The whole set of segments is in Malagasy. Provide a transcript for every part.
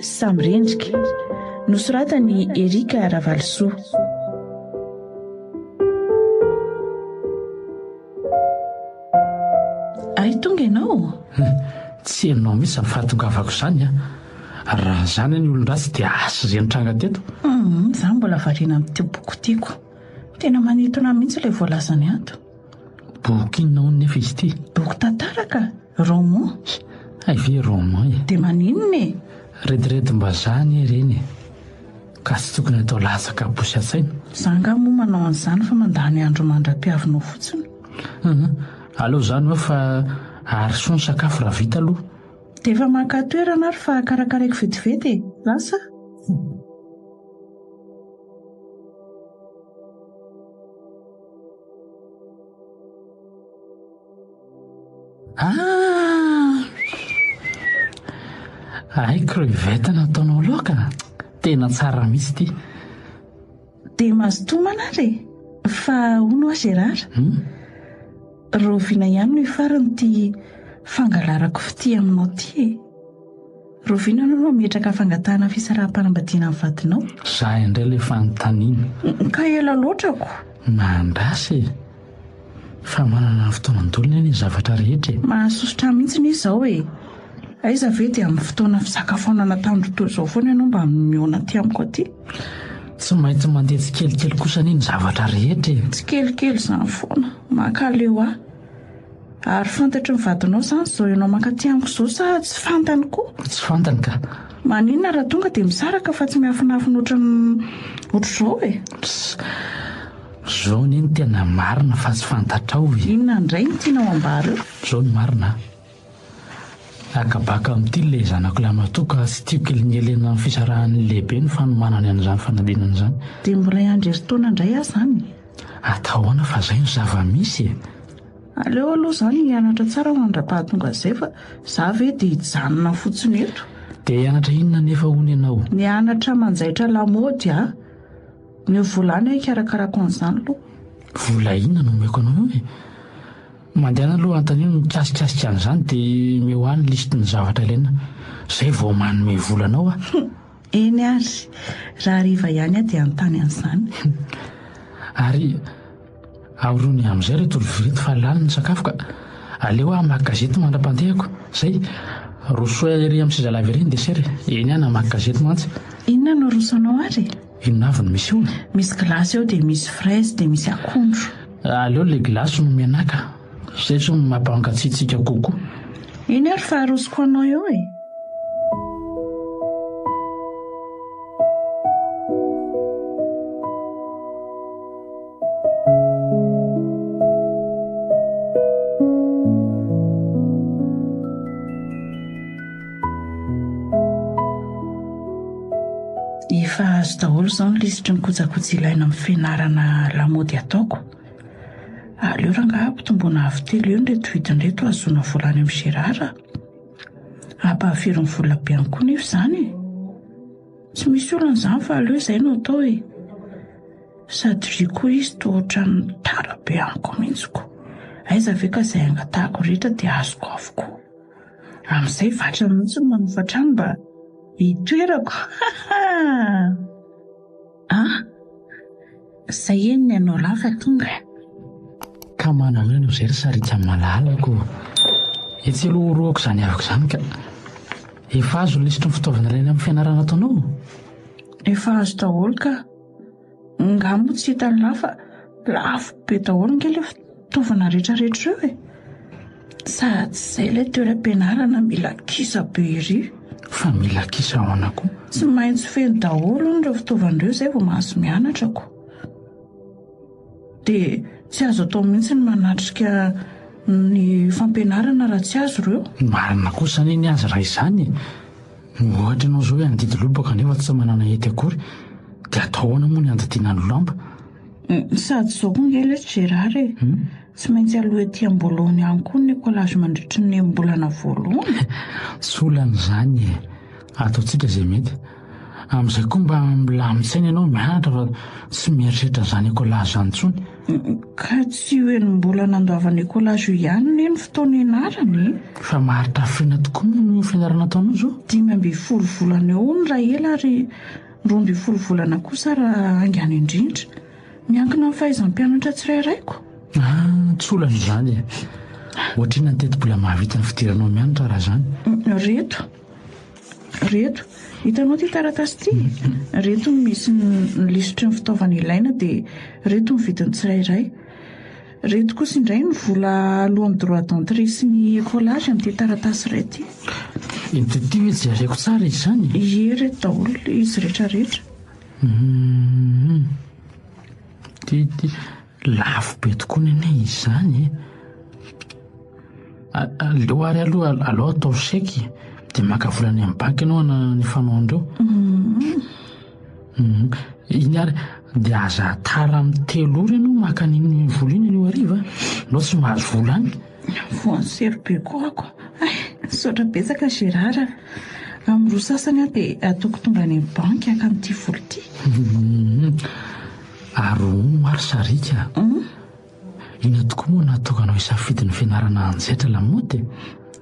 Samyrendrika, nosoratan'i Erika Ravalosoa. Hay tonga ianao? Tsy ianao mihitsy ny fahatongavako izany an! Raha izany anie olon-dratsy dia asa izay nitranga teto. Humm, izaho mbola variana amin'ity boky tiako. Tena manintona mihitsy ilay voalazany ato. Boky inona hono nefa izy ity? Boky tantara ka! Roman? Hay ve roman e! Dia maninona e? Rediredim-bazaha anie ireny e! Ka tsy tokony atao latsaka posy an-tsaina. Za angaha moa manao an'izany fa mandany andro mandra-piavinao fotsiny. Hum, aleo izany hoe fa ary soa ny sakafo raha vita aloha. Dia efa maka toerana ary fa karakaraiko vetivety e! Lasa a! Ah! Hay crevette nataonao laoka? Tena tsara mihitsy ity. Dia mazotoa manary e! Fa hono ho'a Gérard? Hmm? Rahoviana ihany no hifarany ity fangalarako fitia aminao ity e? Rovina anao raha mihetraka fangatahana fisaraham-panambadiana ny vadinao. Za indray le fanontaniana. Ka ela loatra ko. Mandrasa e! Fa manana ny fotoanan-dolony anie ny zavatra rehetra e! Mahasosotra ahy mihitsy ny izao e! Aiza ve dia amin'ny fotoana fisakafoanana tandro toa izao foana ianao mba mihaona aty amiko aty? Tsy maintsy mandeha tsikelikely kosa anie ny zavatra rehetra e! Tsikelikely izany foana. Mankaleo ahy. Ary fantatry ny vadinao izany izao ianao mankaty amiko izao sa tsy fantany koa? Tsy fantany ka. Maninona raha tonga dia misaraka fa tsy miafinafina ohatran'ny ohatr'izao e? Pss, izao anie no tena marina fa tsy fantatrao e. Inona indray no tianao ambara eo? Izao no marina a. Akabaka amin'ity ilay zanako lahy matoa ka tsy tiako kelin'i Elena amin'ny fisarahan'ny lehibe ny fanomanany an'izany fanadinana izany. Dia miray andro herintaona indray aho izany e! Atao ahoana fa izay no zava-misy e! Aleo aloha izany hianatra tsara mandra-pahatonga izay fa izaho ve dia hijanona fotsiny eto? Dia hianatra inona anefa hono ianao? Ny hianatra manjaitra lamaody a! Omeo vola any aho hikarakarako an'izany aloha. Vola inona no omeko anao eo e? Mandehana aloha antanio ny mikasikasika an'izany de omeo ahy ny liste ny zavatra ilaina zay vao manome vola anao aho. Eny ary! Raha hariva ihany aho dia hanontany an'izany. Ary aorony amin'izay ireto lovia ireto fa lany ny sakafo ka! Aleo aho hamaky gazety mandra-pandehako. Izay! Rosoy ery amin'ny sezalava ery ny desera e! Eny aho namaky gazety mantsy. Inona no aroso anao ary e? Inona avy no misy ony? Misy gilasy eo dia misy fraise dia misy akondro. Aleo ilay gilasy no mianaka, izay izao no mampankatsiatsiaka kokoa. Iny ary fa arosoko anao eo e! Efa azo daholo izao ny lisitry ny kojakoja ilaina amin'ny fianarana lamaody ataoko. Aleo rangaha ampitomboana avo telo eo ireto vidiny ireto hahazoana vola any amin'ny Gérard. Hampahafiry ny vola be ihany koa nefa izany e. Tsy misy olana izany fa aleo izay no atao e. Sady ry koa izy toa ohatran'ny tara be amiko mihitsy ko. Aiza ve ka izay angatahako rehetra dia azoko avokoa. Amin'izay vatra mihitsy no manofa trano mba hitoerako hahaha! an! Izay anie ny anao lahy fa tonga e! Ka manana anao izay ry Sarika malalako ô! Etsy aloha horohako izany havako izany ka! Efa azo ny lisitry ny fitaovana ilaina amin'ny fianarana ataonao? Efa azo daholo ka! Nga moa tsy hitan'ny lahy fa lafo be daholo nge le fitaovana rehetra rehetra eo e! Sady izay ilay toeram-pianarana mila kisa be ery. Fa mila kisa ahoana koa? Tsy maintsy feno daholo hono ireo fitaovana ireo izay vao mahazo mianatra ko. Dia tsy azo atao mihitsy ny manatrika ny fampianarana raha tsy azo ireo. Marina kosa anie ny azy raha izany e! Ohatra ianao izao hoe handidy lobaka nefa tsy manana hety akory, dia atao ahoana moa ny handidiana ny lamba? Sady izao koa ange lesy Gérard e! Tsy maintsy aloha ety am-boloany ihany koa ny collage mandritry ny enim-bolana voalohany e! Tsy olana izany e! Ataontsika izay mety. Amin'izay koa mba milamin-tsaina ianao mianatra fa tsy mieritreritra an'izany collage izany intsony. Ka tsy io eny mbola nandoavana io collage io ihany anie ny fotoana ianarana e! Fa maharitra hafrena tokoa moa ny fianarana ataonao izao? Dimy ambin'ny folo volana eo ny raha ela ary roa ambin'ny folo volana kosa raha haingana indrindra. Miankina amin'ny fahaizan'ny mpianatra tsirairay ko. Ah, tsy olana izany e! Ohatrinona ny tetibola mahavita ny fidiranao mianatra raha izany? Reto. Ireto. Hitanao ity taratasy ity? Ireto no misy ny lisitry ny fitaovana ilaina dia ireto ny vidiny tsirairay. Ireto kosa indray ny vola aloan'ny droit d'entrée sy ny écolage amin'ity taratasy iray ity. Ity ity ve jereko tsara izy izany? Ie, ireto daholo, izy rehetra rehetra. Ity ity. Lafo be tokoa ny anay izany e! Aleo ary aloha aleo ataovy chèque e! Dia maka vola any amin'ny banky ianao hanao ny fanaonareo. Iny ary dia aza tara amin'ny telo ora ianao maka an'iny vola iny anio hariva an! Ianao tsy mahazo vola any. Voan'ny sery be koa ako. Hay, misaotra betsaka Gérard a! Amin'ny roa sasany aho dia ataoko tonga any amin'ny banky haka an'ity vola ity. Ary hono ary sariaka a! Inona tokoa moa no nahatonganao hisafidy ny fianarana hanjaitra lamaody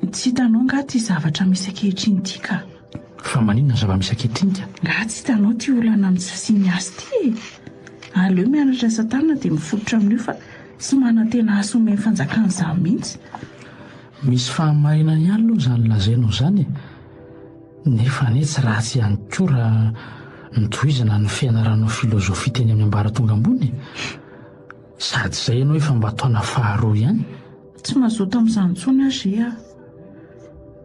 e? Tsy hitanao angaha ity zavatra misy ankehitriny ity ka! Fa maninona ny zava-misy ankehitriny ka? Angaha tsy hitanao ity olana amin'ny tsy fisian'ny asa ity e? Aleo mianatra asa tanana dia mifototra amin'io fa tsy manantena asa omen'ny fanjakana izany mihitsy. Misy fahamarinany ihany aloha izany lazainao izany e! Nefa anie tsy ratsy ihany koa raha notohizana ny fianaranao filozofia teny amin'ny ambaratonga ambony e! Sady izay ianao efa mba taona faharoa ihany. Tsy mazoto amin'izany intsony aho ry a!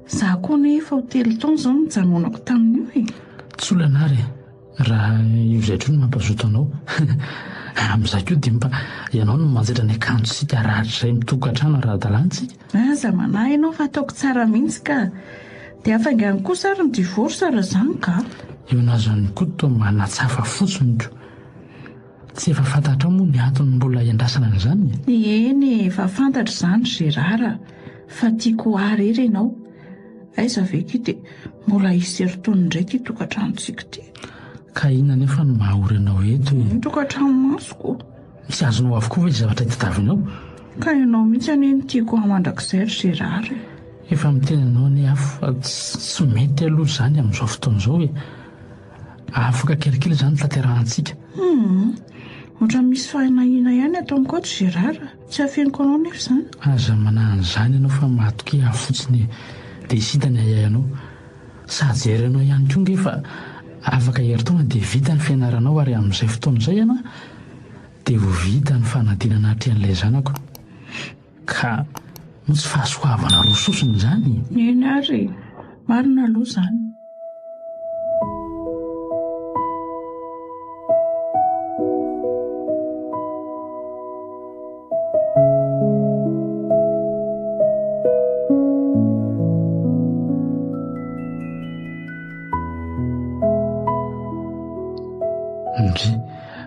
Izaho koa anie efa ho telo taona izao no nijanonako tamin'io e! Tsy olana ary e! Raha io izay hatreo no mampazoto anao, amin'izay koa dia mba ianao no manjaitra ny akanjontsika harahatra izay mitokan-trano ara-dalansika. Aza manahy ianao fa ataoko tsara mihitsy ka. Dia hafaingany kosa ary ny divorce raha izany ka. Eo an'azon'i Koto manatsafa fotsiny ko. Tsy efa fantatrao moa ny antony mbola iandrasana an'izany e? Eny e, efa fantatro izany ry Gérard a, fa tiako ho ahy irery ianao. Aiza ve ity dia mbola hisy erotoniny indray ity tokantranontsika ity. Ka inona anefa no maha-ory anao eto e? Ny tokantranomasoko. Tsy azonao avokoa ve ny zavatra itadiavinao? Ka ianao mihitsy anie no tiako ho ahy mandrakizay ry Gérard e! Efa miteny anao anie aho fa tsy mety aloha izany amin'izao fotoana izao e! Avoka kelikely izany ny tanterahantsika. Humm, ohatran'ny misy fahinahina ihany ato amiko ato Gérard. Tsy afeniko anao nefa izany. Aza manahy an'izany ianao fa matokia ahy fotsiny e. Dia hita ny ahiahy anao. Sahy jery anao ihany koa ange fa afaka herintaona dia vita ny fianaranao ary amin'izay fotoana izay ianao dia ho vita ny fanadinana hatrehan'ilay zanako. Ka misy fahasoavana roa sosona izany? Eny ary e! Marina aloha izany. Ndry!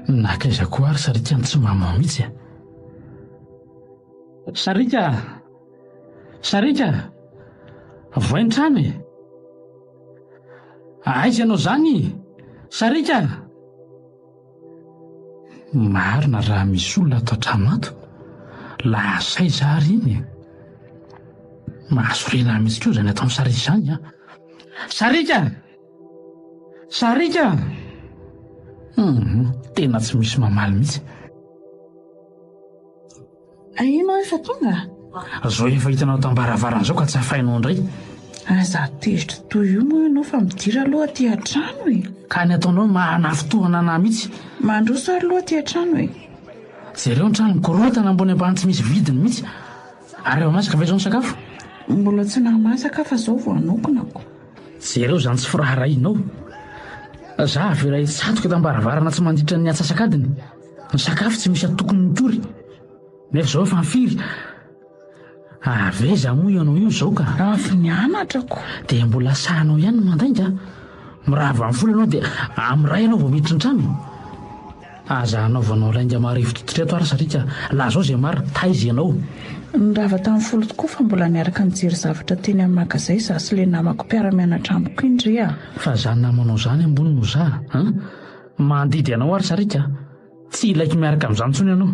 Nankaiza koa ary sarikan'i Tsimamao mihitsy a! Sariaka a! Sariaka a! Voaintrano e! Aiza ianao izany? Sariaka a! Marina raha misy olona ato an-trano ato. Lasa aiza ary iny e? Mahasoriana ahy mihitsy koa izany ataon'i Sariaka izany an! Sariaka! Sariaka! Hum, tena tsy misy mamaly mihitsy. Aia ianao efa tonga? Zao efa hitanao tam-baravarana zao ka tsy afainao indray. Aza tezitra toy io moa ianao fa midira aloha aty an-trano e. Ka ny ataonao no maha-lafo tohana anah mihitsy. Mandroso ary aloha aty an-trano e. Jereo ny trano mikorontana ambony ambany tsy misy vidiny mihitsy. Ary efa masaka ve zao ny sakafo? Mbola tsy nahamasaka fa zao vao hanokonako. Jereo zany tsy firaharahianao. Za avela hitsatoka tam-baravarana tsy mandritra ny atsasak'adiny. Ny sakafo tsy misy antokony mitory. Nefa zao efa firy? Ary aiza moa ianao io zao ka? Avy nianatra ko. Dia mbola sahanao ihany ny mandainga? Mirava amin'ny folo ianao dia amin'ny iray ianao vao miditra an-trano e! Aza hanaovanao lainga marivo tototra eto ary sariaka, lazao izay marina, taiza ianao? Nirava tamin'ny folo tokoa fa mbola niaraka nijery zavatra teny amin'ny magazay izaho sy ilay namako mpiara-mianatra amiko iny re a! Fa za namanao zany ambony no za an! Mandidy anao ary sariaka a! Tsy hilaiko miaraka amin'izany intsony ianao.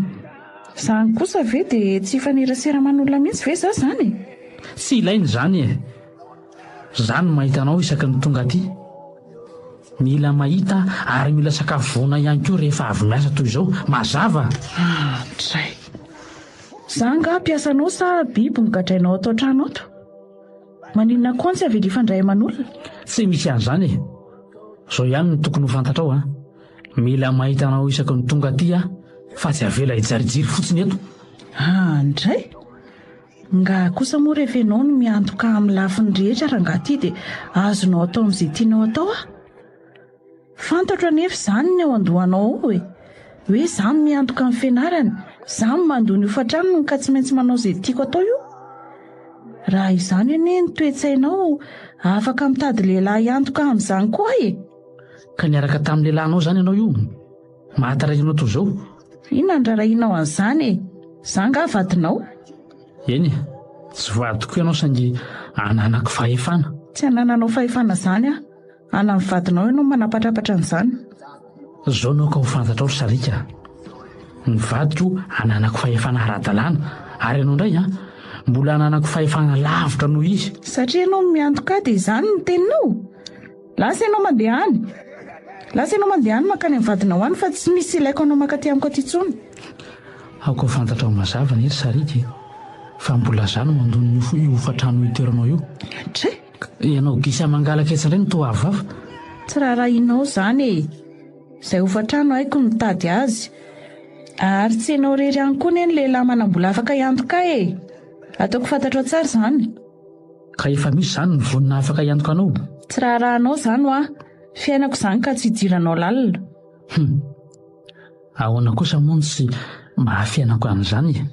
Izany kosa ve dia tsy hifanerasera aman'olona mihitsy ve izaho izany e? Tsy ilaina izany e! Izaho no mahita anao isaky ny tonga aty. Mila mahita ary mila sakafo vonona ihany koa rehefa avy miasa toy izao. Mazava? Andray. Izaho angaha mpiasanao sa biby nogadrainao ato an-trano ato? Maninona koa antsy avily fandray aman'olona? Tsy misy an'izany e! Izao ihany no tokony ho fantatrao an! Mila mahita anao isaky ny tonga aty aho fa tsy avela hijirijiry fotsiny eto! An indray? Nga kosa moa rehefa ianao no miantoka amin'ny lafiny rehetra rangaha ity dia azonao atao amin'izay tianao atao aho? Fantatro anefa izany ny eo an-dohanao ao e! Hoe za miantoka ny fianarany, za mandoa ny hofan-tranony ka tsy maintsy manao izay tiako atao io? Raha izany anie ny toe-tsainao, afaka mitady lehilahy hiantoka amin'izany koa e! Ka niaraka tamin'ny lehilahinao izany ianao io? Mahatarainana toy izao? Inona no raharahianao an'izany e? Za angaha vadinao? Eny e! Tsy vadiko ianao saingy ananako fahefana. Tsy anananao fahefana izany aho. Ala ny vadinao ianao manapatrapatra an'izany. Zao naoka ho fantatrao ry sariaka a! Ny vadiko ananako fahefana ara-dalàna ary ianao indray an! Mbola ananako fahefana lavitra noho izy. Satria ianao no miantoka ahy dia izany no teninao? Lasa ianao mandeha any! Lasa ianao mandeha any mankany amin'ny vadinao any fa tsy misy ilaiko anao mankaty amiko aty intsony. Aoka ho fantatrao mazava anie ry sariaka e! Fa mbola za no mandona io hofantrano itoeranao io. Dray! Ianao gisa mangalaka etsy indray no toa avoafa. Tsy raharahianao izany e! Izay hofan-trano haiko ny mitady azy. Ary tsy ianao irery ihany koa anie ny lehilahy manam-bola afaka hiantoka ahy e! Ataoko fantatrao tsara izany. Ka efa misy izany ny vonona afaka hiantoka anao? Tsy raharahanao izany hoa! Fiainako izany ka tsy hidiranao lalina. Hum! Ahoana kosa moa no tsy maha fiainako an'izany e?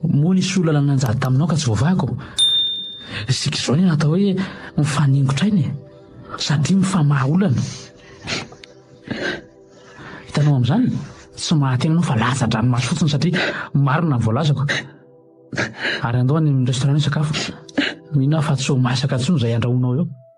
Moa nisy olona nanajary taminao ka tsy voavahako? Isika izao ny atao hoe mifaningon-traina e, satria mifamaha olana. Hitanao amin'izany? Tsy mahateny ianao fa latsa-dranomaso fotsiny satria marina ny voalazako. Ary andao any amin'ny restaurant hisakafo. Mino aho fa tsy ho masaka intsony izay andrahoinao eo.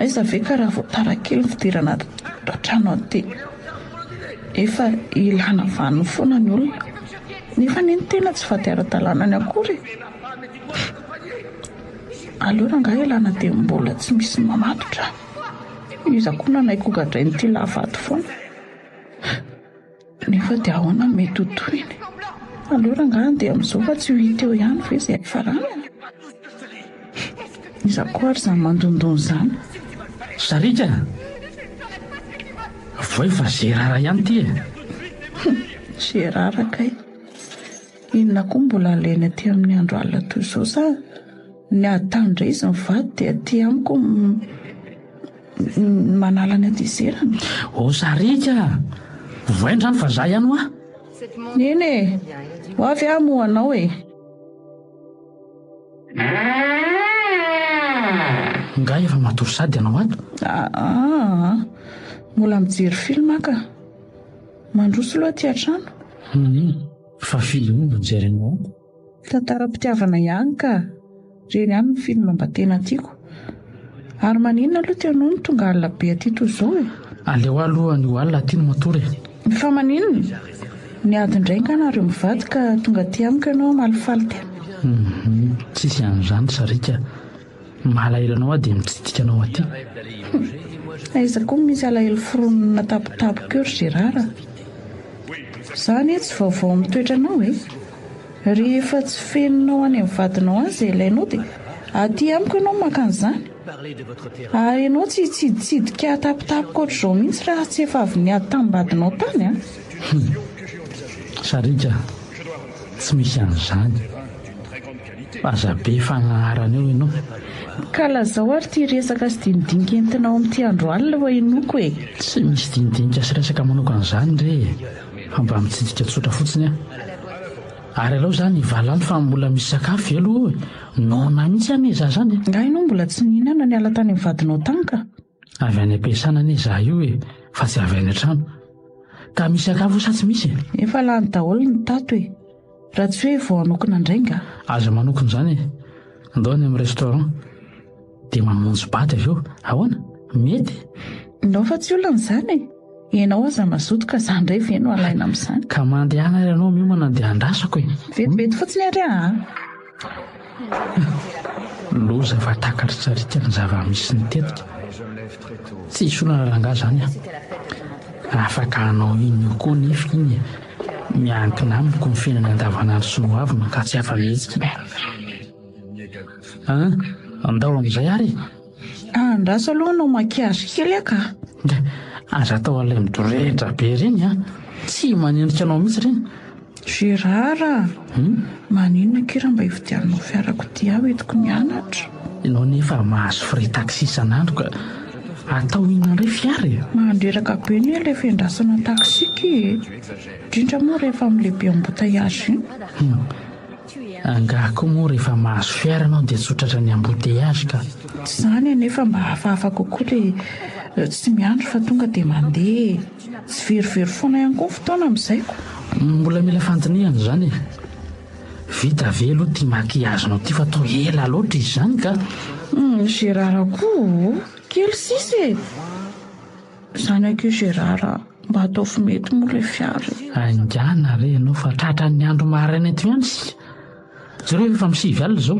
Aiza ve ka raha vao tara kely ny fidirana ato an-trano aty. Efa ilana vaniny foana ny olona. Nefa anie ny tena tsy vady ara-dalàna ny akory e. Aleo rangahy ialana dia mbola tsy misy mamatotra. Iza koa nanaiky hogadrain'ity lahy vady foana. Nefa dia ahoana no mety ho tohiny? Aleo rangahy andeha amin'izao fa tsy io hita eo ihany ve izay hifaranany? Iza koa ary izany mandondona izany? Sariaka a! Avoay fa Gerara ihany ity e! Hum! Gerara kay! Inona koa no mbola alainy aty amin'ny andro alina toy izao sa? Ny ahy tany indray izy mivady dia aty amiko ny manala ny hatezerana. Ô Sariaka a! Ovaina izany fa izaho ihany hoa. Neny e! Ho avy aho hamoha anao e! Ingahy efa matory sady ianao ato? Aa! Mbola mijery film aho ka. Mandroso aloha aty an-trano. Maninona? Fa film inona no jerinao ato? Tantaram-pitiavana ihany ka! Ireny ihany no film mba tena tiako. Ary maninona aloha ty anao no tonga alina be aty toy izao e? Aleo aho aloha ny ho alina aty no matory e! Fa maninona? Niady indray nga nareo mivady ka tonga aty amiko ianao hamaly faly tena? Hum, tsisy an'izany sariaka. Ny maha alahelo anao aho dia mitsidika anao aty. Humm! Aiza koa no misy alahelo foronina tapotapoka eo ry Gérard a! Za anie tsy vaovao amin'ny toetranao e! Rehefa tsy fenonao any amin'ny vadinao any izay ilainao dia aty amiko ianao no maka an'izany. Ary ianao tsy hitsiditsidika ahy tapotapoka ohatr'izao mihitsy raha tsy efa avy niady tamin'ny vadinao tany an! Humm! Sariaka a! Tsy misy an'izany. Aza be fagnarana eo enao. Ka lazao ary ty resaka sy dinidinika entinao amin'ity andro alina oa inoako e! Tsy misy dinidinika sy resaka manokana zany re e, fa mba mitsidika tsotra fotsiny ah. Ary alao zany valano fa mbola misy sakafo ve aloha oe? Noana mihitsy anie za zany e! Nga enao mbola tsy nihinana niala tany amin'ny vadinao tany ka? Avy any am-piasana anie izaho io e, fa tsy avy any an-trano. Ka misy sakafo sa tsy misy e? Efa lany daholo ny tato e. Raha tsy hoe vao hanokona indray nga? Aza manokona izany e. Ndao any amin'ny restaurant. Dia mamonjy bata avy eo. Ahoana? Mety? Ndao fa tsy olana izany e. Ianao aza mazoto ka za ndray ve no alaina amin'izany. Ka mandehana ary ianao miomana dia andrasako e! Vetivety fotsiny ary aa! Loza fa takaritraritra ny zava-misy nitetika. Tsy hisy olana rangahy izany an! Afaka hanao iny eo koa nefa iny e! Miankina amiko ny fiainany andavanandro sy ny hoaviny ka tsy afa-mihetsika e! An! Andao amin'izay ary e! Andraso aloha no maquillage kely ah ka. Aza atao alay midorehitra be ireny an! Tsy manendrika anao mihitsy ireny. Gérard a! Maninona akia raha mba hividiananao fiarakodia aho entiko mianatra? Ianao nefa mahazo frais taxi isan'andro ka! Atao inona indray fiara e? Mandreraka be anie ilay fiandrasana taxi akia e! Indrindra moa rehefa amin'ilay be embouteillage iny. Angaha koa moa rehefa mahazo fiara ianao dia tsotra hatrany embouteillage ka. Tsy izany anefa mba hafahafa kokoa ilay tsy miandry fa tonga dia mandeha e! Tsy very very foana ihany koa ny fotoana amin'izay ko. Mbola mila fandinihana izany e! Vita ve aloha ity maquillage nao ity fa toa ela loatra izy izany ka. Ny Gérard koa oh! Kely sisa e! Zanako io Gérard a! Mba ataovy mety moa ilay fiara e! Haingana re ianao fa tratran'ny andro maraina eto ihany isika. Jereo fa efa amin'ny sivy alina izao.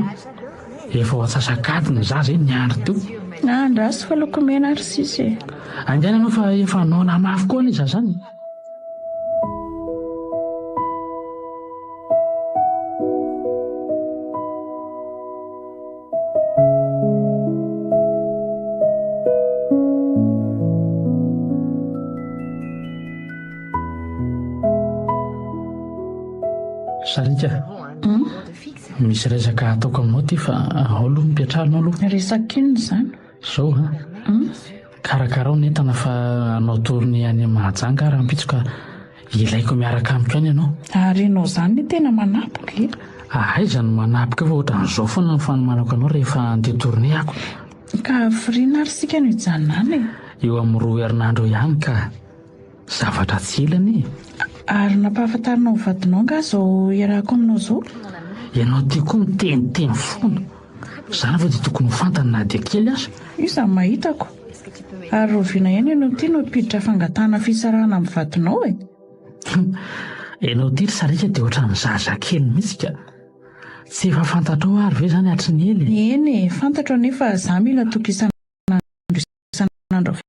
Efa ho antsasak'adiny ny zaza e, niandry teo. Nahandrasy fa loko mena ary sisa e! Haingana ianao fa efa noana mafy koa anie izaho izany. Misy resaka ataoko aminao ty fa ao aloha mipetraha anao aloha. Resaka inona izany? Zao an! karakarao ny entana fa hanao tournée any Mahajanga aho rahampitso ka ilaiko miaraka amiko any ianao. Ary ianao izany ny tena manapoka e! Ah, aiza no manapoka eo fa ohatran'izao foana ny fanomanako anao rehefa handeha tournée ako. Ka hafiriana ary isika no hijanona any e! Eo amin'ny roa herinandro eo ihany ka! zavatra tsy ela anie e! Ary nampahafantarinao ny vadinao angaha izao iarahako aminao izao? Ianao ity koa miteniteny foana, izany ve dia tokony ho fantany na dia kely aza? Io izany mahitako. Ary rahoviana ihany ianao ity no ampiditra fangatahana fisarahana amin'ny vadinao e? Ianao ity ry sariaka dia ohatran'ny zazakely mihitsy ka! Tsy efa fantatrao ary ve izany hatry ny ela e? Eny e, fantatro anefa izaho mila tokisana andro isan'andro avy eo.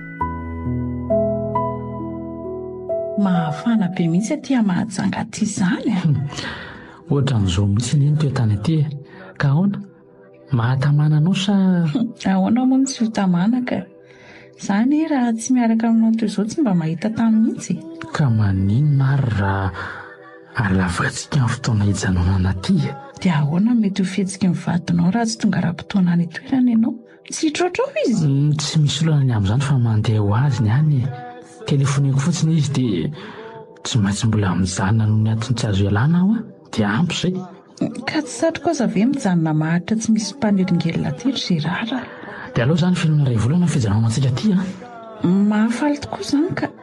Mahafana be mihitsy aty a Mahajanga aty izany a! Ohatran'izao mihitsy anie ny toetany aty e! Ka ahoana? Mahatamana anao sa? Ahoana moa no tsy ho tamana ka! Za anie raha tsy miaraka aminao toy izao tsy mba mahita tany mihitsy e! Ka maninona ary raha alavantsika ny fotoana hijanonana aty e! Dia ahoana no mety ho fihetsiky ny vadinao raha tsy tonga ara-potoana any an-toerana ianao? Tsy hitroatra ao izy? Mm, tsy misy olana ny amin'izany fa mandeha ho azy ny any e. Telefoniko fotsiny izy dia tsy maintsy mbola mijanona noho ny antony tsy azo ialana aho a. Dia ampy izay. Ka tsy satriko aza ve mijanona maharitra tsy misy mpanelingelina aty ry Gérard? Dia aleo izany film iray volana ny fijanonantsika aty a. Mahafaly tokoa izany ka.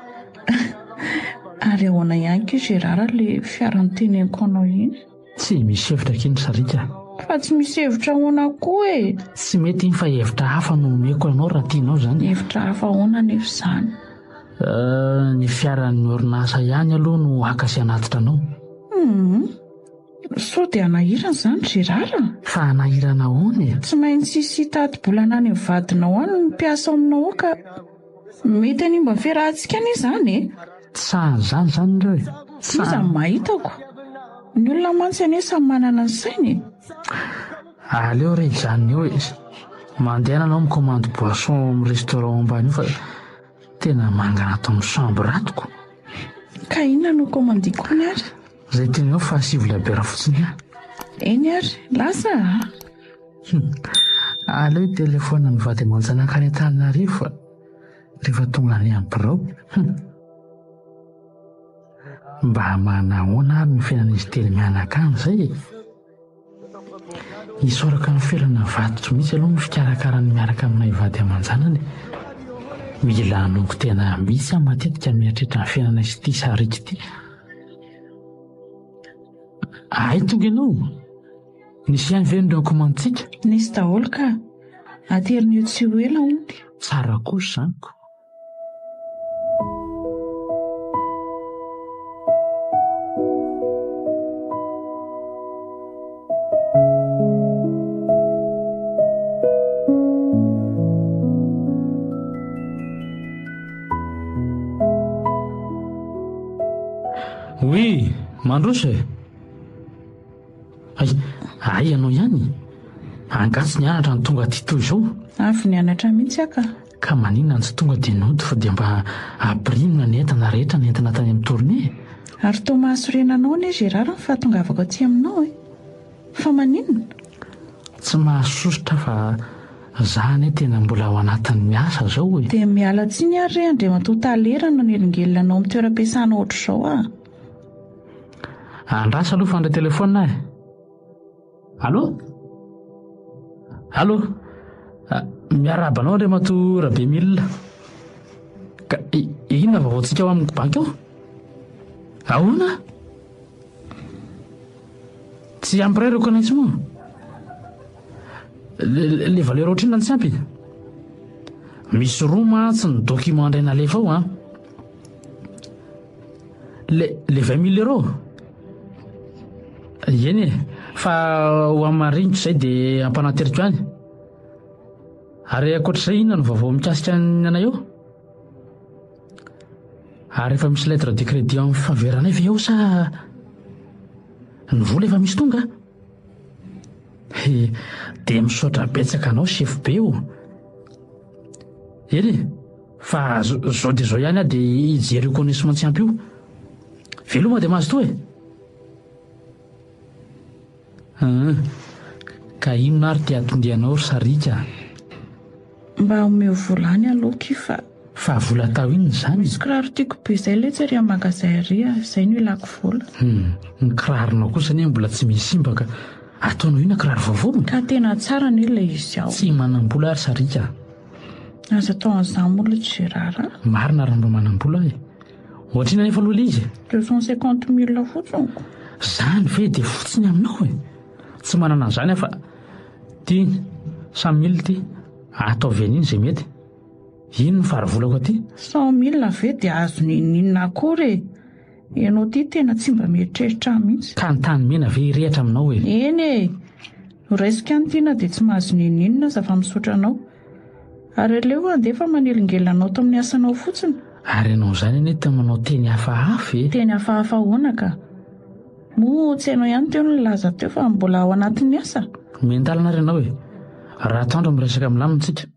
Ary ahoana ihany koa Gérard ilay fiaran'ny teneniko anao iny? Tsy misy hevitra akia ny sariaka. Fa tsy misy hevitra ahoana koa e? Tsy mety iny fa hevitra hafa no omeko anao raha tianao izany. Hevitra hafa ahoana anefa izany? Euh, ny fiaran'ny orinasa ihany aloha no haka sy hanatitra anao. Hum, sao dia hanahirana izany Gérard a? Fa hanahirana ahoana e? Tsy maintsy hisy hitady-bolana any amin'ny vadinao any ny mpiasa ao aminao ao ka. Mety hanimba ny fiarahantsika anie izany e! Tsy sahy izany izany ireo e! Tsy sahy. Moa izany maha hitako. Ny olona mantsy anie samy manana ny sainy e! Aleo re izany eo e! Mandehana ianao mi-commande boisson ao amin'ny restaurant ambany eo fa tena mangana ato amin'ny chambre ato ko! Ka inona no ho commandiko hono ary? Izay teninao fa sivy labiera fotsiny ihany. Eny ary, lasa a! Aleo hitelefaonina ny vady aman-janaka any Antananarivo fa rehefa tonga any amin'ny birao, mba manahoana ary ny fiainan'izy telo mianakavy izay e? Isaoraka ny ferana avadiko mihitsy aloha ny fikarakarany miaraka aminay vady aman-janany. Mila hanongo tena mihitsy aho matetika mieritreritra ny fiainanay sy ity sariako ity. Hay tonga ianao? Nisy ihany ve ny rankomantsika? Nisy daholo ka! Aterina eo tsy ho ela onty. Tsara kosa izany ko! Mandroso e! Hay, hay ianao ihany? Angaha tsy nianatra no tonga aty toy izao? Avy nianatra mihitsy aho ka. Ka maninona no tsy tonga dia nody fa dia mba apirimina ny entana rehetra nentina tany amin'ny tournée e? Ary toa mahasorena anao anie Gérard ny fahatongavako aty aminao e! Fa maninona? Tsy mahasosotra aho fa za anie tena mbola ao anatin'ny asa izao e! Dia miala tsiny ary re Andriamatoa Tale raha nanelingelina anao amin'ny toeram-piasana ohatr'izao aho. Andraso aloha fa handray telefaonina aho e! Allô? Allô? Miarahaba anao Andriamatoa Rabemila. Ka inona vaovaontsika ao amin'ny banky ao? Ahoana? Tsy ampy iray ireo connexion. Le valeur ohatrina tsy ampy. Misy roa mantsy ny document indray nalefa ao an. Le le 20 mille euros. Eny e, fa ho amin'ny maha-ringotra izay dia ampanateriko any. Ary ankoatra izay inona no vaovao mikasika ny anay eo? Ary efa misy lettre de crédit en faveur anay ve eo sa ny vola efa misy tonga? He, dia misaotra betsaka anao chef be o. Eny e. Fa zao dia zao ihany aho dia hijery io connaissement tsy ampy io. Veloma dia mazotoa e! Aa, ka inona ary ty atondianao ry Sarika? Mba omeo vola any aloha ki fa. Fa vola atao inona izany? Misy kiraro tiako be izay letsy ary magasin ary a, izay no ilako vola. Hum, ny kiraronao kosa anie mbola tsy misy simba ka. Ataonao inona kiraro vaovao? Ka tena tsara anie ilay izy ao. Tsy manam-bola ry Sarika. Aza atao an'izany moa aloha Gérard a. Marina raha mba manam-bola e. Ohatrina anefa aloha ilay izy e. Deux cent cinquante mille fotsiny ko. Izany ve dia fotsiny aminao e. Tsy manana an'izany aho fa ity cent mille ity ataovy an'iny izay mety. Iny no farivolako aty. Cent mille ve dia azony inona akory e. Ianao ity tena tsy mba mieritreritra ahy mihitsy. Ka ny tany mena ve hirehatra aminao e? Eny e! Noraisiko ihany ity na dia tsy mahazo n'inon'inona aza fa misaotra anao. Ary aleo handefa manelingelina anao tao amin'ny asanao fotsiny. Ary ianao izany anie tena manao teny hafahafa e! Teny hafahafa ahoana ka? Moa tsy ianao ihany teo no nilaza teo fa mbola ao anatin'ny asa? Miandalana ary ianao e! Raha atao andro miresaka milamina isika.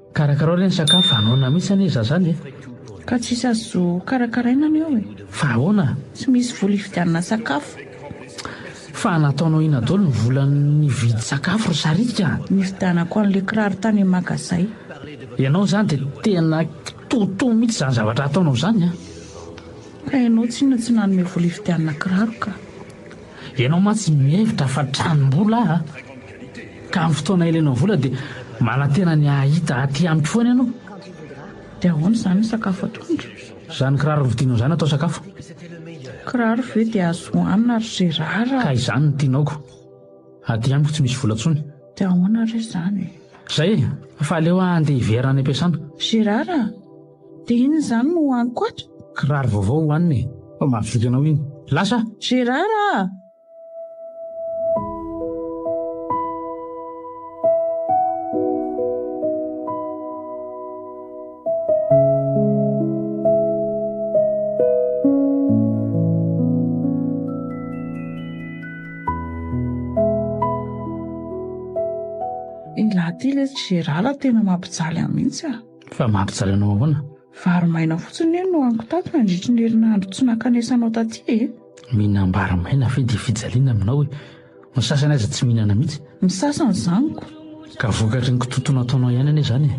Karakarao re ny sakafo, anoina mihitsy anie za zany e! Ka tsisy azo karakaraina anie eo e! Fa ahoana? Tsy misy vola hividianana sakafo. Fa nataonao inona daholo ny vola nividy sakafo ry saritika a! Nividianako an'ilay kiraro tany amin'ny magazay. Ianao izany dia tena kitoatoa mihitsy izany zavatra ataonao izany a! Ka ianao tsinona tsy nanome vola hividianana kiraro ka! Ianao mantsy mihevitra fa tranom-bola aho ka amin'ny fotoana ilainao vola dia manantena ny hahita aty amiko foana ianao. Dia ahoana izany ny sakafo atoandro? Izany kiraro novidinao izany atao sakafo. Kiraro ve dia azo hohanina ry Gérard a? Ka izany no tianaoko. Aty amiko tsy misy vola intsony. Dia ahoana re izany? Izay e! Fa aleo aho handeha hiverina any am-piasana. Gérard a! Dia inona izany no hohaniko ato? Kiraro vaovao hohanina e! Fa mahavita anao iny. Lasa aho! Gérard a! Iny lahy ity lesy Gérard tena mampijaly ahy mihitsy a! Fa mampijaly anao ahoana? Vary maina fotsiny anie no haniko tato nandritry ny herinandro tsy nankanesanao taty e! Mihinam-bary maina ve dia fijaliana aminao e? Ny sasany aza tsy mihinana mihitsy. Ny sasany zaniko. Ka vokatry ny kitotoana ataonao ihany anie izany e!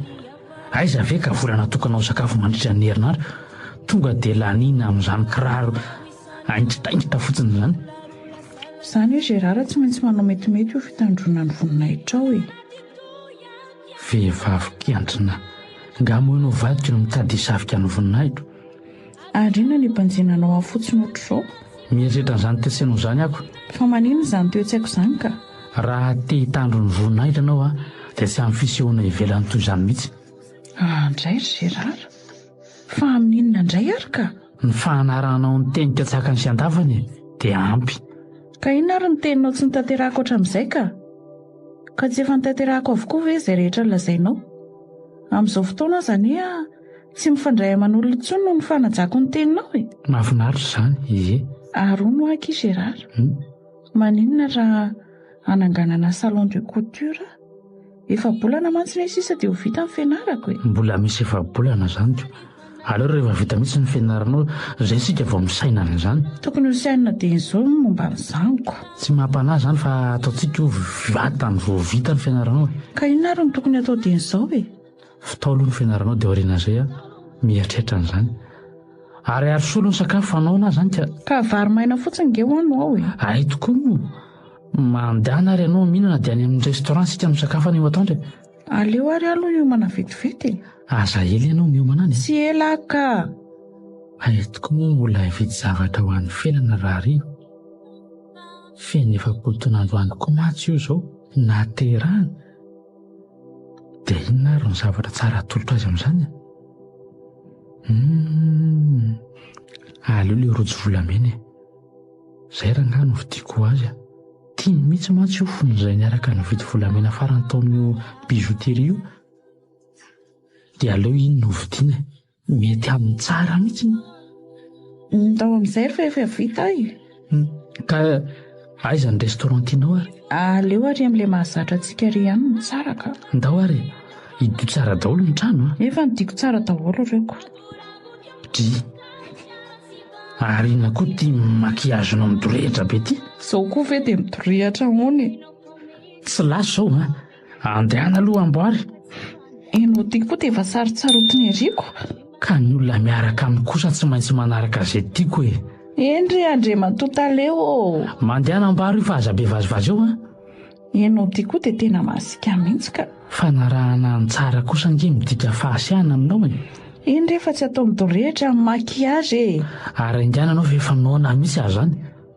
Aiza ve ka vola natokanao ho sakafo mandritra ny herinandro? Tonga dia laniana amin'izany kiraro haingitaingita fotsiny izany. Izany hoe Gérard tsy maintsy manao metimety io fitandroana ny voninahitrao e! Vehivavy mpiantrina, Nga moa ianao vadiko no mitady hisavika ny voninahiko? Ary inona ny banjina anao ahy fotsiny ohatr'izao? Mieritreritra an'izany toe-tsainao izany aho. Fa maninona izany toe-tsaiko izany ka? Raha te hitandro ny voninahiko ianao aho, dia tsy amin'ny fisehoana ivelany toy izany mihitsy. Andraikitra, Gérard. Fa amin'inona indray ary ka? Ny fanarahanao ny teny katsakany sy andavany dia ampy. Ka inona ary ny teninao tsy notanterahako hatramin'izay ka? Ka tsy efa notanterahako avokoa ve izay rehetra nolazainao? Amin'izao fotoana aza anie tsy mifandray aman'olona intsony noho ny fanajako ny teninao e! Mahafinaritra izany, ie. Ary hono aky i Gérard. Maninona raha hananganana salon de couture? Efa-bolana mantsy ve sisa dia ho vita ny fianarako e? Mbola misy efa-bolana izany ka. Aleo rehefa vita mihitsy ny fianaranao izay isika vao misaina an'izany. Tokony ho sainina dieny izao ny momba ny zanako. Tsy maha-panahy izany fa ataontsika ho vantany vao vita ny fianaranao e. Ka inona ary no tokony hatao dieny izao e? Fitao aloha ny fianaranao dia aorian'izay aho mieritreritra an'izany. Ary ary soa aloha ny sakafo hanao na izany ka. Ka vary maina fotsiny nge hoano ao e. Hay tokoa moa. Mandehana ary ianao mihinana dia any amin'ny restaurant isika misakafo any io atoandro e. Aleo ary aho aloha hiomana vetivety e. Aza ela ianao miomana any e. Tsy ela aho ka. Hay tokoa moa mbola hividy zavatra ho an'ny fiainana rahariva. Feno efapolo taona androany koa mantsy io izao nahaterahana. Dia inona ary no zavatra tsara atolotra azy amin'izany? Hum, aleo ilay rojo volamena e. Izay rangahy no vidiako ho azy. Tiany mihitsy mantsy io fony izahay niaraka nividy volamena farany tao amin'io bijouterie io. Dia aleo iny no hovidiana e. Mety aminy tsara mihitsy moa. Ndao amin'izay fa efa vita e. Ka aiza ny restaurant tianao ary? Aleo ary amin'ilay mahazatra antsika irery ihany no tsara ka. Ndao ary e. Hidio tsara daholo ny trano a. Efa nodiako tsara daholo ireo ka. Dry. Ary inona koa ity maquillage-nao midorehitra be ity? Izao koa ve dia midorehitra ahoana e. Tsy lasa ao a. Andehana aloha amboary. Enao ty koa dia efa sarotsarotiny eriako. Ka ny olona miaraka aminy kosa tsy maintsy manaraka izay tiako e. Eny re Andriamatoa Tale ô! Mandehana amboary io fa aza be vazivazy eo an! Enao ty koa dia tena masika mihitsy ka. Fanarahana any tsara kosa ange midika fahasiahana aminao e! Eny re fa tsy atao midorehitra ny maquillage e! Ary enga ianao ve efa noana mihitsy aza any?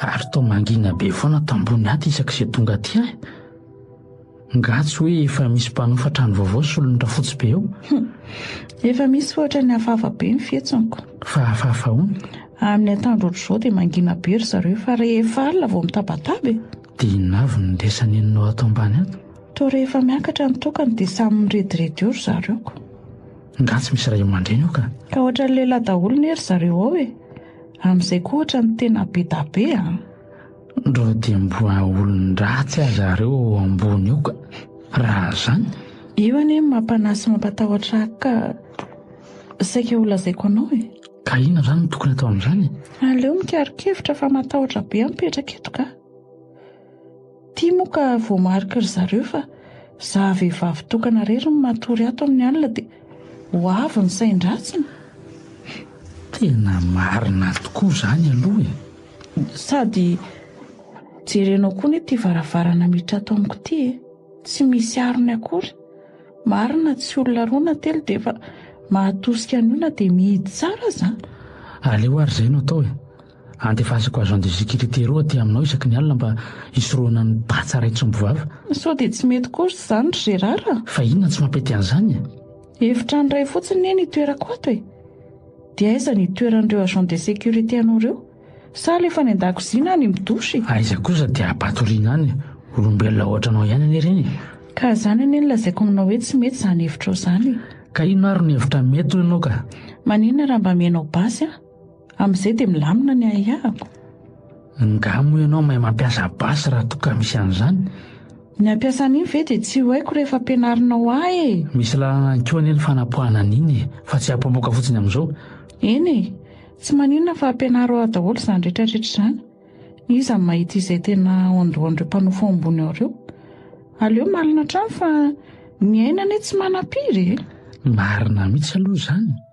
Ary toa mangina be foana ato ambony ato isaky izay tonga aty ahy. Nga tsy hoe efa misy mpanofa trano vaovao solon'ny rafotsy be eo? Efa misy fa ohatran'ny hafahafa be ny fihetsiko. Fa hafahafa ahoana? Amin'ny atoandro ohatr'izao dia mangina be ry zareo fa rehefa alina vao mitabataba e. Dia inona avy no ndesa nenonao ato ambany ato? Toa rehefa miakatra ny tokana dia samy mirediredy eo ry zareo ko. Nga tsy misy ray aman-dreny eo ka? Ka ohatran'ny lehilahy daholo ne ry zareo ao e! Amin'izay koa ohatran'ny tena be da be a! Ndra dia mboa olon-dratsy aza reo ao ambony ao ka! Raha zany? Io anie no mampanahy sy mampatahotra ahy ka saika ho lazaiko anao e! Ka inona zany no tokony atao amin'izany e? Aleo mikaro-kevitra fa matahotra be aho mipetraka eto ka! Ity moa ka voamariky ry zareo fa za vehivavy tokana rery no matory ato amin'ny alina dia ho avy ny sain-dratsiny. Tena marina tokoa izany aloha e! Sady jerenao koa anie ity varavarana miditra ato amiko ity e! Tsy misy arony akory. Marina tsy olona roa na telo dia efa mahatosika an'io na dia mihidy tsara aza. Aleo ary izay no atao e! Andefasako agent de sécurité roa aty aminao isaky ny alina mba hisorohana ny patsa iray tsompy vava. Sao dia tsy mety kosa izany ry Gérard a? Fa inona no tsy mampety an'izany e? Efitrano iray fotsiny anie ny itoerako ato e! Dia aiza ny itoeran'ireo agent de sécurité anao ireo? Sa alefa any an-dakozia na any amin'ny douche e? Aiza kosa dia ampatoriana any e? Olombelona ohatra anao ihany anie ireny e! Ka izany anie no lazaiko aminao hoe tsy mety izany hevitrao izany e! Ka inona ary no hevitra mety hoy ianao ka? Maninona raha mba amianao basy an? Amin'izay dia milamina ny ahiahiko. Nga moa ianao mahay mampiasa basy raha toa ka misy an'izany? Ny hampiasa an'iny ve dia tsy ho haiko rehefa ampianarinao ahy e! Misy lalana ihany koa anie ny fanapoahana an'iny e! Fa tsy hapomoka fotsiny amin'izao. Eny e! Tsy maninona fa ampianaro ahy daholo izany rehetrarehetra izany. Iza no mahita izay tena ondohan'ireo mpanofo ambony ao ireo? Aleo malina hatrany fa ny aina anie tsy manam-piry e! Marina mihitsy aloha izany.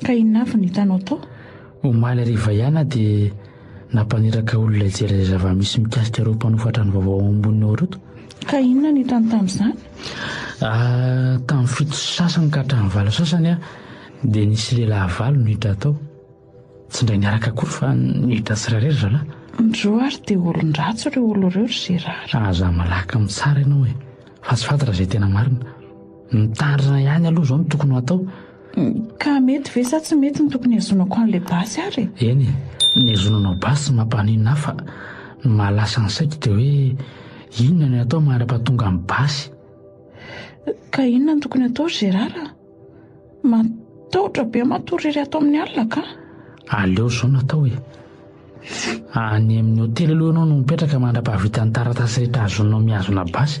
Ka inona avy no hitanao tao? Omaly hariva ihany aho dia nampaniraka olona hijery izay zava-misy mikasika ireo mpanofa trano vaovao ao ambony ao ireto. Ka inona no hitany tamin'izany? Ah, tamin'ny fito sy sasany ka hatramin'ny valo sasany aho dia nisy lehilahy valo no niditra tao. Tsy indray niaraka akory fa niditra tsirairay ry zalahy. Ndroo ary dia olon-dratsy ireo olona ireo ry Gérard. Aza malaky mitsara ianao e! Fa tsy fantatra izay tena marina. Mitandrina ihany aloha izao no tokony ho atao. Ka mety ve sa tsy mety ny tokony hihazonako an'ilay basy ary e? Eny e, ny hazonanao basy mampaninona ahy fa ny mahalasa ny saiko dia hoe inona no atao mandrapahatonga ny basy. Ka inona no tokony atao ry Gérard a? Matahotra be matory irery ato amin'ny alina ka. Aleo izao no atao e. Any amin'ny hotely aloha ianao no mipetraka mandrapahavita ny taratasy rehetra azonao mihazona basy.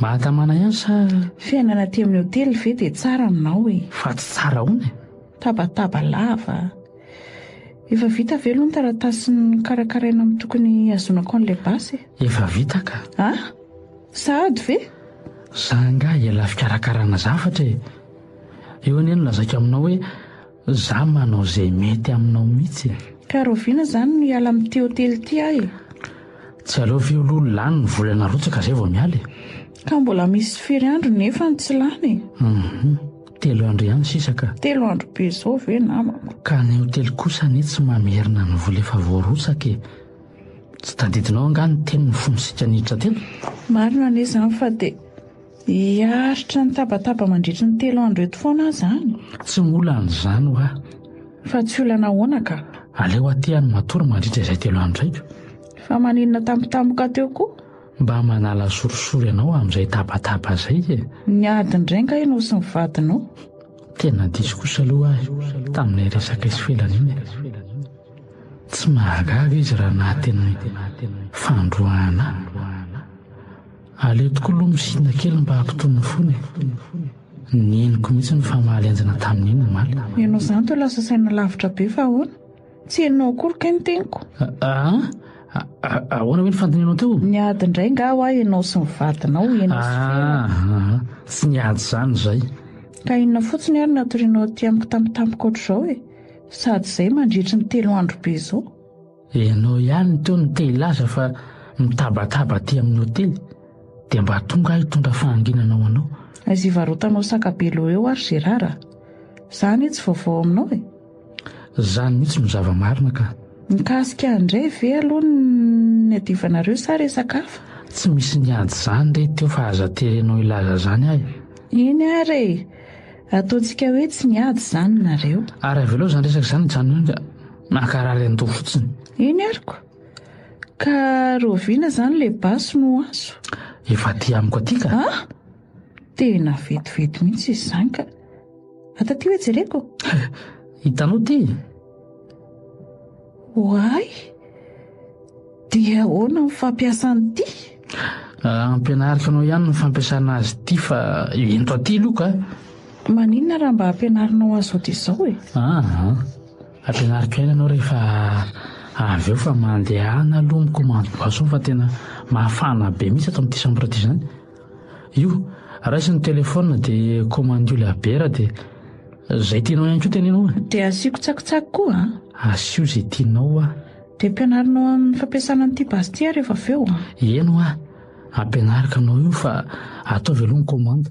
Mahatamana ihany sa. Fiainana aty amin'ny hotely ve dia tsara aminao e? Fa tsy tsara ahoana e? Tabataba lava. Efa vita ve aloha ny taratasin'ny karakaraina amin'ny tokony hazonako an'ilay basy e? Efa vita ka. A? Sahady ve? Za angaha ela fikarakarana zavatra e. Eo anie no lazaiko aminao hoe Za manao zay mety aminao mitsy e. Ka rahoviana zany no hiala amity hotely ty aho e. Tsy aleo ve aloha lany ny vola narotsaka zay vao miala e. Ka mbola misy firy andro nefany tsy lany e. Hum telo andro ihany sisa ka. Telo andro be zao ve namako. Ka ny hotely kosa anie tsy mamerina ny vola efa voarotsaka e. Tsy tadidinao angaha ny teniny fony sika niditra teny? Marina anie zany fa de. Hiaritra ny tabataba mandritry ny telo andro eto foana aho izany? Tsy mbola an'izany ho aho. Fa tsy olana ahoana ka? Aleo aty aho no matory mandritra izay telo andro izay ka. Fa maninona tampotampoka teo koa? Mba manala sorisory anao amin'izay tabataba izay e! Niady indray angaha ianao sy ny vadinao? Tena diso kosa aloha aho e, tamin'ilay resaka isoelana iny e! Tsy mahagaga izy raha naha tena fandroahana ahy. Aleo tokoa aloha misinda kely mba hampitony ny fony e! Ny henoko mihitsy no famaly enjana tamin'iny omaly. Ianao izany toa lasa saina lavitra be fa ahoana? Tsy henonao akory kay ny teniko? Aa! Ahoana hoe ny fandinianao teo? Niady indray angaha hoa ianao sy ny vadinao, ianao sy Ferra? Aa! Tsy niady izany izay. Ka inona fotsiny ary no hatorianao aty amiko tampotampoka ohatr'izao e? Sady izay mandritry ny telo andro be izao. Ianao ihany teo no te hilaza fa mitabataba aty amin'ny hotely dia mba tonga aho hitondra fahanginana ho anao. Aiza hivarotanao saka be loha eo ary Gérard a! Za anie tsy vaovao aminao e! Zany mihitsy no zava-marina ka! Mikasika an'izay ve aloha no niadivanareo sa resaka hafa? Tsy misy niady izany re teo fa aza terenao hilaza izany ahy! Iny ary e! Ataontsika hoe tsy miady izany nareo. Ary avelao izany resaka izany hijanona eo ka hankarary andoha fotsiny. Eny aroko. Ka rahoviana izany ilay basy no azo? Efa aty amiko aty ka. An! Tena vetivety mihitsy izy izany ka. Ato aty hoe jereko. Hitanao ity? Ho ahy dia ahoana ny fampiasana ity? Ampianariko anao ihany ny fampiasana azy ity fa ento aty aloha ka. Maninona raha mba ampianarinao azy ody izao e? Aha, ampianariko ihany ianao rehefa avy eo fa mandehana aloha micommande boisson fa tena mafana be mihitsy ato amin'ity chambre ity izany. Io, raiso ny telephone dia komandio ilay bière dia izay tianao ihany koa teneno e! Dia asiako tsakitsaky koa an! Asio izay tianao hoa! Dia ampianarinao amin'ny fampiasana an'ity basy ity rehefa avy eo an! Eny hoa, ampianariko anao io fa ataovy aloha ny komanda.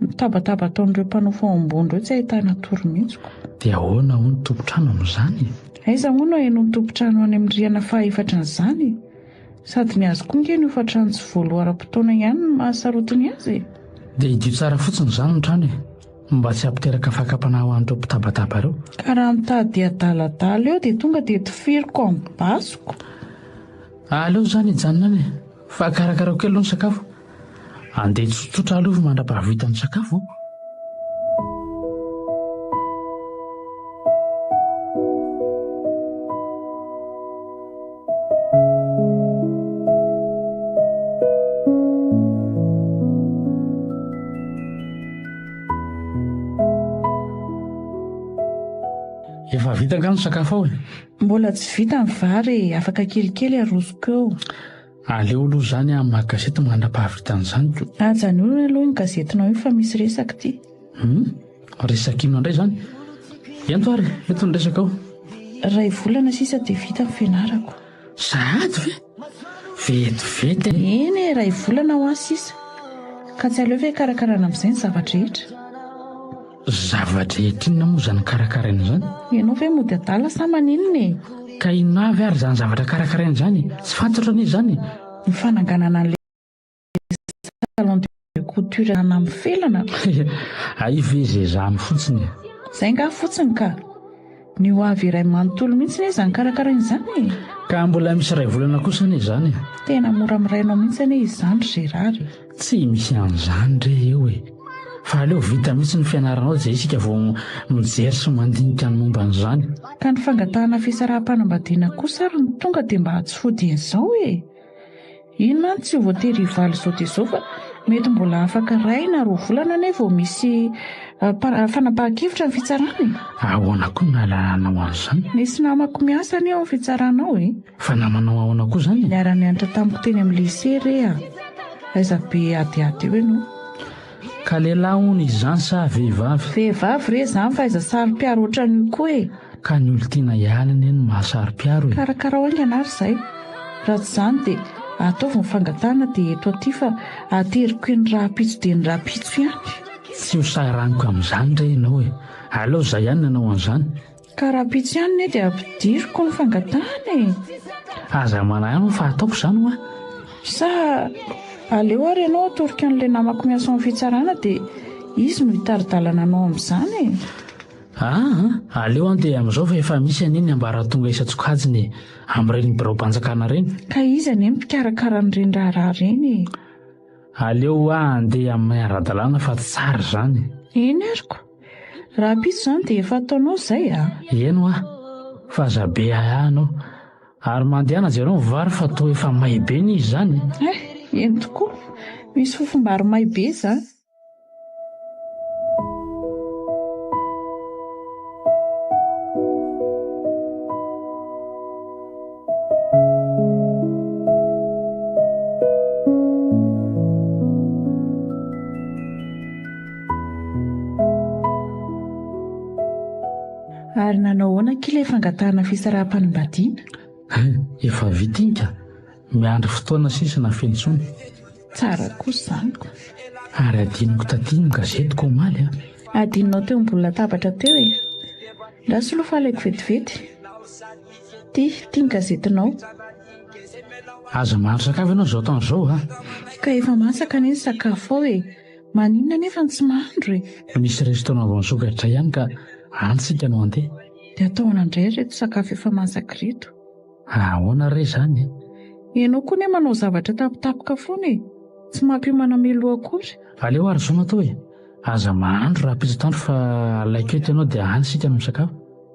Mitabataba ataon'ireo mpanao fahomboana ireo tsy ahitana tory mihitsy ko. Dia ahoana hono tompon-trano amin'izany e? Aiza hono ahenoan'ny tompon-trano any amin'ny rihana fahaefatra an'izany e? Sady ny azy koa ange ny hofan-trano tsy voaloaram-potoana ihany no mahasarotiny azy e! Dia hidio tsara fotsiny izany ny trano e! Mba tsy hampiteraka fakam-panahy ho an'ireo mpitabataba ireo. Ka raha mitady hadaladala eo dia tonga dia tifiriko amin'ny basiko. Aleo izany hijanona any e! Fa karakarao kely aloha ny sakafo. Andeha tsotsotra aloha mandra-pahavita misakafo aho. Efa vita angaha ny sakafo ao e? Mbola tsy vita ny vary e, afaka kelikely arosoko eo. Aleo aloha izany aho mamaky gazety mandra-pahavitan'ny zanako. Ajanony aloha iny gazetinao iny fa misy resaka ity. Hum, resaka inona indray izany? Ento ary, eto ny resakao. Iray volana sisa dia vita ny fianarako. Sahady ve? Vetivety e! Eny e, iray volana ho ahy sisa. Ka tsy aleo ve hikarakarana amin'izay ny zava-drehetra? Zava-drehetra inona moa izany karakaraina izany? Ianao ve mody adala sa maninona e? Ka inona avy ary izany zavatra karakaraina izany e? Tsy fantatro anie izany e! Ny fananganana an'ilay salon de couture izany amin'ny felana? Hay ve izay izany fotsiny e! Izay angaha fotsiny ka! Ny ho avy iray manontolo mihitsy anie izany karakaraina izany e! Ka mbola misy iray volana kosa anie izany e! Tena mora mirainao mihitsy anie izany ry Gérard e! Tsy misy an'izany re eo e! Fa aleo vita mihitsy ny fianaranao izay isika vao mijery sy mandinika ny momba an'izany. Ka ny fangatahana fisaraham-panambadiana kosa ary no tonga dia mba tsy fodian'izao e! Iny mantsy tsy voatery hivaly izao dia izao fa mety mbola afaka iray na roa volana anie vao misy ah, fanapahan-kevitra ny fitsarana e. Ahoana koa no nahalalanao an'izany? Nisy namako miasa anie ao amin'ny fitsarana ao e. Fa namanao ahoana koa izany? Niara-nianatra tamiko teny amin'ny lycée re ah. Aiza be adiady eo ianao? Ka lehilahy hono izany sa vehivavy? Vehivavy re izany fa aiza saro-piaro ohatran'io koa e! Ka ny olon-tiana ihany anie no maha saro-piaro e! Karakarao haingana ary izay! Raha tsy izany dia ataovy ny fangatahana dia eto aty fa ateriko eny rahampitso dia ny rahampitso ihany! Tsy ho saharaniko amin'izany re ianao e! Aleo izay ihany no hanao an'izany! Ka rahampitso ihany ne dia ampidiriko ny fangatahana e! Aza manahano fa ataoko izany hoa! Sa aleo ary ianao atoroko an'ilay namako miasa ao amin'ny fitsarana dia izy no hitari-dalana anao amin'izany e! Aa! Aleo any dia amin'izao fa efa misy anie ny ambaratonga isan-tsokajiny e! Amin'ireny biraom-panjakana ireny! Ka iza anie no mpikarakara an'ireny raharaha ireny e! Aleo hoa andeha amin'ny maha-ara-dalàna fa tsara izany e! Eny aroko! Rahampitso izany dia efa ataonao izay a! Eny hoa, fa aza be ahiahy anao. Ary mandehana jereo ny vary fa toa efa may be ny izy izany e! Eh, eny tokoa, misy fofombary may be izany. Ary nanao ahoana akia ilay fangatahana fisaraham-panambadiana? Hay, efa vita iny ka! Miandry fotoana sisa na feno intsony. Tsara kosa izany ka! Ary hadinoko taty ny gazetiko omaly a! Hadinonao teo ambony latabatra teo e! Ndra soloy fa alaiko vetivety. Ty, ty ny gazetinao. Aza mahandro sakafo ianao izao taona izao a! Ka efa masaka anie ny sakafo ao e! Maninona anefa no tsy mahandro e? Misy restaurant vao nisokatra ihany ka any tsika no handeha. Dia ataovana indray ireto sakafo efa masaka ireto. Ahoana re izany e? Ianao koa anie manao zavatra tapitapoka foana e! Tsy mampiomana meloa akory. Aleo ary izao no atao e! Aza mahandro raha pitsy atoandro fa alaiky eto ianao dia any isika no misakafo.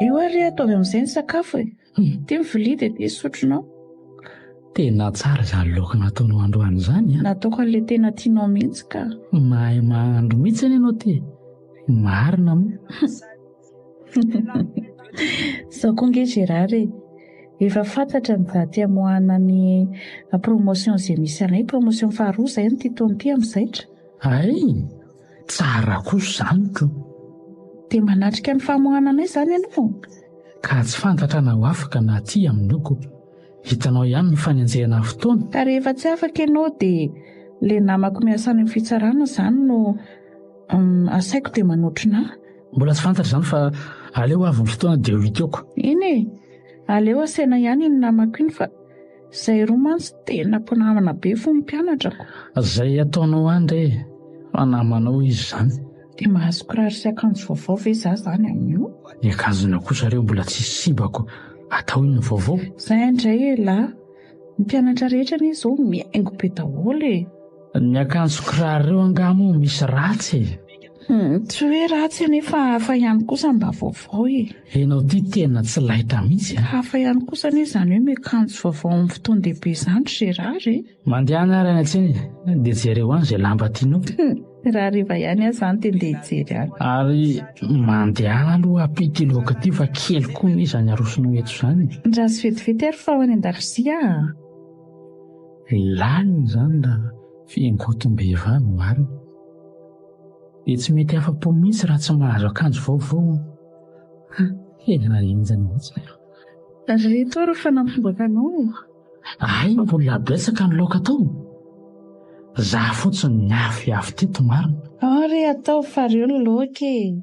Io ary ataovy amin'izay ny sakafo e. Ity ny vilia dia ity sotronao. Tena tsara izany laoka nataonao androany izany a. Nataoko an'ilay tena tianao mihitsy ka. Mahay mahandro mihitsy anie ianao ty. Marina moa. Zao koa nge Gérard e, efa fantatra ny daty hamoahana ny promotion Zemisarin, promotion faharoa izay amin'ity taona ity amin'ny zaitra. Hay! Tsara kosa izany ko! Dia manatrika ny famoahana anay izany ianao ka tsy fantatra na ho afaka na tsia amin'io ko! Hitanao ihany ny fanenjehana ny fotoana! Ka rehefa tsy afaka ianao dia ilay namako miasa any amin'ny fitsarana izany no asaiko dia manotrona ahy! Mbola tsy fantatra izany fa aleo ho avy ny fotoana dia ho iteoko! Eny e! Aleo asaina ihany iny namako iny fa. Zay roa mantsy tena mpinamana be fo ny mpianatra. Zay ataonao any re fa namanao izy zany. Dia mahazo kiraro sy akanjo vaovao ve za zany amin'io? Ny akanjonao kosa re mbola tsy sibako atao inona vaovao? Zay ndray elah, ny mpianatra rehetra anie zao mihaingo be daholo e! Ny akanjo kiraro reo angaha moa misy ratsy e? Hmm, tsy hoe ratsy anefa hafa ihany kosa mba vaovao e. Enao ty tena tsy laitra mihitsy. Ah. Hafa ihany kosa anie izany hoe miakanjo vaovao amin'ny fotoan-dehibe izany ry Gérard e. Mandehanà ary any an-tsena e, dia jereo any izay lamba tianao. Hmm, raha hariva ihany aza any dia ndeha hijery any. Ary mandehana aloha ampio ity laoka ity fa kely koa anie izany arosonao eto izany. Ndraso vetivety ary fa ho any an-dakozia ah. Lalina izany raha fiangotim-behivavy no marina. Dia tsy mety afa-po mihitsy raha tsy mahazo akanjo vaovao aho. Ha, tena henjana mihitsy aho. Ry Toro fa nampimbaka anao e! Hay mbola betsaka ny laoka atao e! Izaho fotsiny ny avy avy teto marina. Ary ataovy f'areo ny laoka e!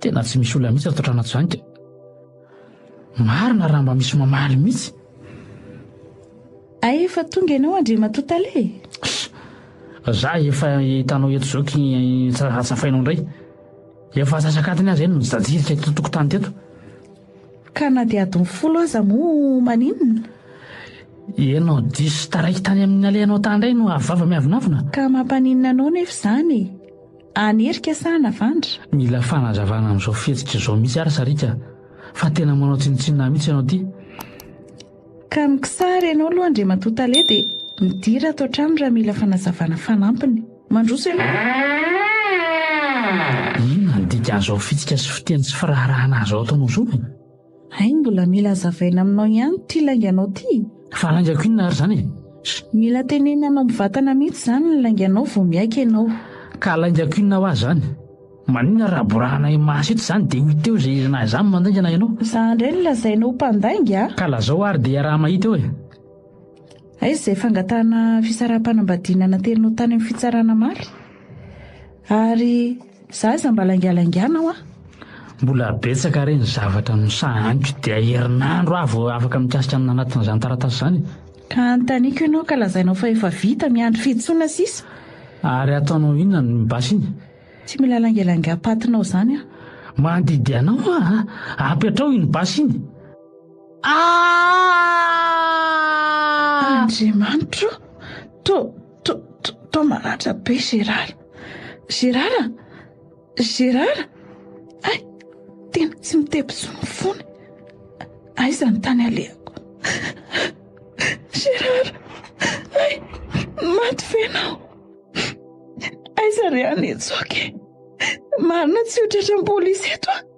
Tena tsy misy olona mihitsy ato Tranatsoany ka. Marina raha mba misy mamaly mihitsy. Hay efa tonga ianao Andriamatoa Tale e! Za efa hitanao eto izao ky tsy raha tsafainao indray. Efa antsasak'adiny aza ianao nijajirika eto tokotany teto. Ka na dia adiny folo aza moa maninona? Ianao diso taraiky tany amin'ny nalehanao tany indray no avo vava miavonavona. Ka mampaninona anao nefa izany e? Any Erika sa any Avandra? Mila fanazavana amin'izao fihetsika izao mihitsy ary Sariaka a! Fa tena manao tsinontsinona ahy mihitsy ianao ity. Ka ny kisary ianao aloha Andriamatoa Tale dia midira ato an-trano raha mila fanazavana fanampiny. Mandroso ianao. Inona ny dikan'izao fihetsika sy fiteny sy firaharahana izao ataonao izao e? Hay mbola mila hazavaina aminao ihany ity lainganao ity? Fa laingako inona ary izany e? Mila tenenanao mivantana mihitsy izany ny lainganao vao miaiky ianao. Ka laingako inona hoa izany? Maninona raha borahanay maso eto izany dia hoy teo izay ilanay izany mandaingana ianao? Izaho indray no lazainao ho mpandainga? Ka lazao ary dia iaraha-mahita eo e! Aiza izay fangatahana fisaraham-panambadiana nanteninao tany amin'ny fitsarana maly? Ary za aza mba laingalangiana hoa. Mbola betsaka re ny zavatra no sahaniko dia herinandro aho vao afaka mikasika amin'ny nanatin'izany taratasy izany. Ka anontaniako ianao ka lazainao fa efa vita, miandry fihitsoana sisa. Ary ataonao inona ny basy iny? Tsy mila laingalangiam-patinao izany aho. Mandidy anao aho a! Apetrao iny basy iny. Ah! Andriamanitra o! To, to, to, to maratra be Gérard. Gérard a! Gérard! Ay, tena tsy mitebitso ny fony. Aiza ny tany alehako? Gérard! Ay, maty ve ianao? Aiza re any Hetsoky? Marina tsy ho tratran'ny polisy eto a!